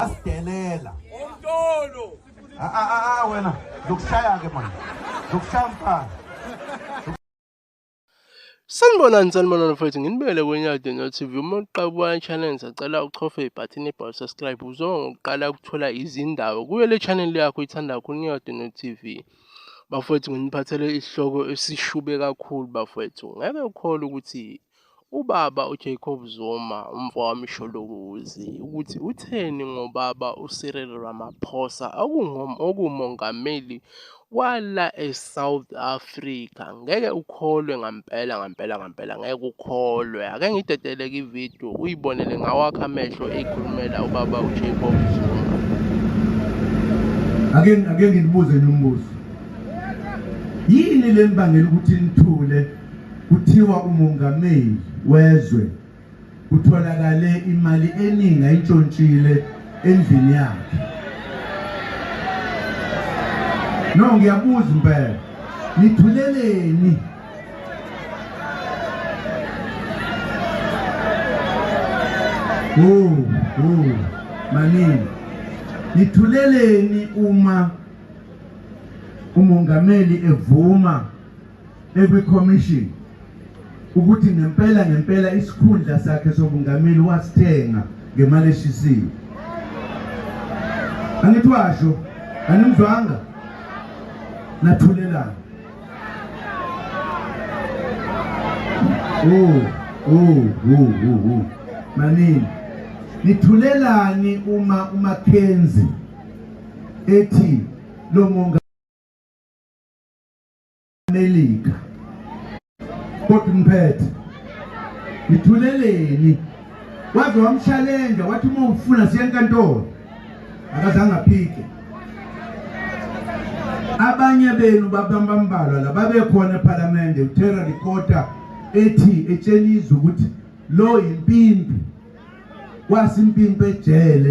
asidelela umtolo a ah, a ah, a ah, wena zokushaya ke manje zokushaya mfana Sanibonani sanibonani mfowethu nginibele kweNyadi no TV uma uqabuka i-channel sacela uchofe ibhathini ebhawu subscribe uzonga ngokuqala ukuthola izindaba kuyo le channel yakho ithanda kakhulu Nyadi no TV Bafowethu nginiphathele isihloko esishube kakhulu bafowethu. Ngeke ukhole ukuthi ubaba uJacob Zuma umfowami Sholokuzi ukuthi utheni ngobaba uCyril Ramaphosa okungomongameli wala eSouth Africa. ngeke ukholwe ngampela ngampela ngampela ngeke ukholwe ake ngidedeleke ividiyo uyibonele ngawakho amehlo eyikhulumela ubaba ujacob zuma ake ake nginibuze nombuzo yini le mbangela ukuthi nithule kuthiwa umongameli wezwe Kutholakale imali eningi ayintshontshile endlini yakhe. No ngiyabuza impela. Nithuleleni. Oh, oh, maningi. Nithuleleni uma umongameli evuma ekwi commission ukuthi ngempela ngempela isikhundla sakhe sobungameli wasithenga ngemali eshisiwe angithi washo animzwanga nathulelana oh oh oh oh, oh. manini nithulelani uma uMackenzie ethi lo monga Melika kodwa ngiphethe ngithuleleni waze wamshalenja wathi uma ufuna siya enkantolo akazange aphike abanye benu babambambalwa lababekhona ephalamende uthera likota ethi etshela izwe ukuthi lo yimpimpi kwasimpimpi ejele